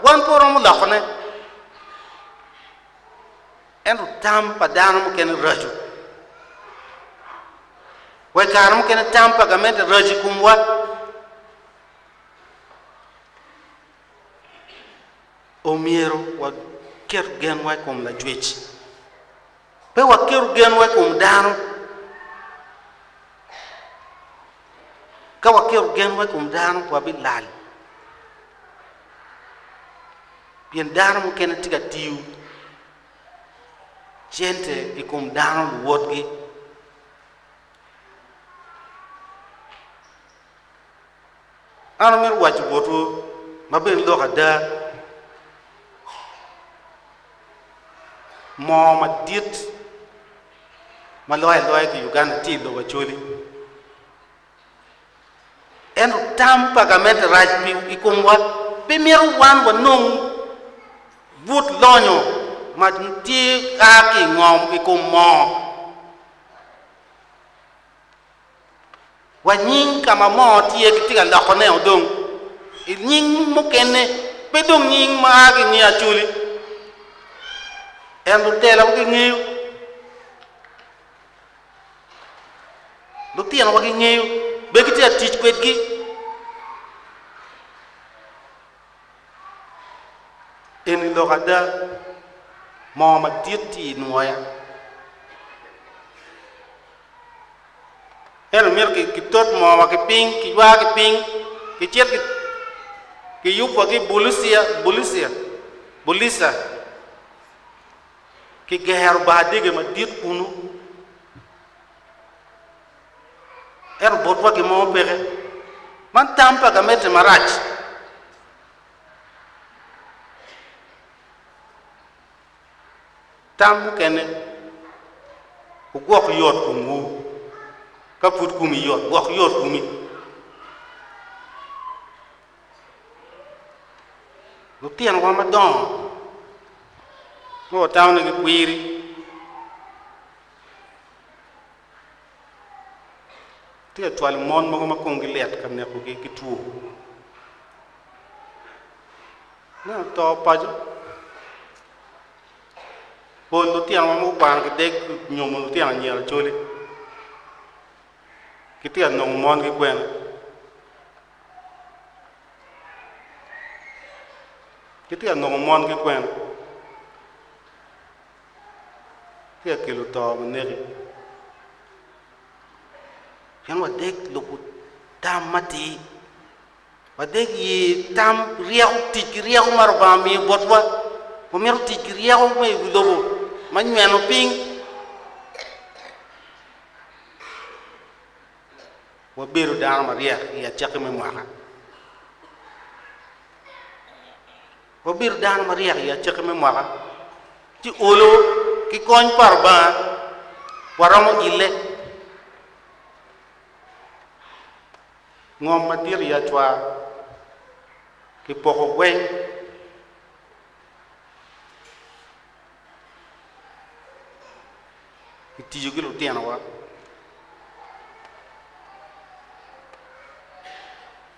wan pe waromo lokone. Ento tam pa dano mukene raco. Wa i kare mukene tam pa gamente raco i komwa. Omyero waket genwa i kom Lacwec, pe waket genwa i kom dano. Ka waketo genwa i kom dano, wabilal, pien dano mukene tye ka tiyo cente i kom dano luwotgi. An amito waco botwu ma bene lok ada, moo madit, ma loyo aloya ki Uganda tye i lobo Acholi. Ento tam pa gamente rac pi i komwa pe mito wan wanong but lonyo ma tye a ki i ngom i kom moo. wa nying ka ma moo tye kitye ka loko ne odong i nying mukene pe dong nying ma a ki nge acoli en lutela wa gingeyo lutino wa gingeyo be kitye ka tic kwedgi eni lok ada moo madit tye i nwoya Ento myero kitot moowa ki piny, kiywa ki piny, kicit kiyubwa ki i Bulicia, Bulicia, Bulisa, kigero bar dege madit kunu. Ento botwa gin mo peke. Man tam pa gamente marac. Tam mukene, Wugwok yot komwu. Ka pud komi yot, gwok yot komi. Lutinowa madongo ma watamonegi kwiri Tye ka cwalo mon mogo ma komgi lit ka nekogi ki two. Me oto paco, pol lutino ma gukwano ki deg nyomo lutino anyira acoli gitye ka nongo mongi kwene. Gitye ka nongo mongi kwene. ci akelo to ma neki. Pien wadek lubo tam matir, wadek ye tam ryeko, tic ki ryeko ma Lubanga miyo botwa, wamito tic ki ryeko me i wi lobo ma nyweno piny, wabedo dano maryek i acakki me mwaka. Wabedo dano maryek i acakki me mwaka ci olo ki kony pa Lubanga waromo ile ngom madit i acwar ki poko gweng ki tiyo ki lutino wa.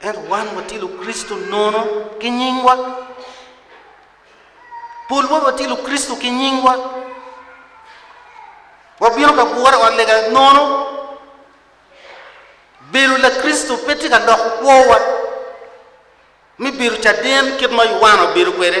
Ento wan watye Lukricito nono ki nyingwa. Polwa watye Lukricito ki nyingwa. Wabino ka gure ot lega nono. Bedo Lakricito pe tye ka loko kwowa me bedo caden kit ma Yuana obedo kwede.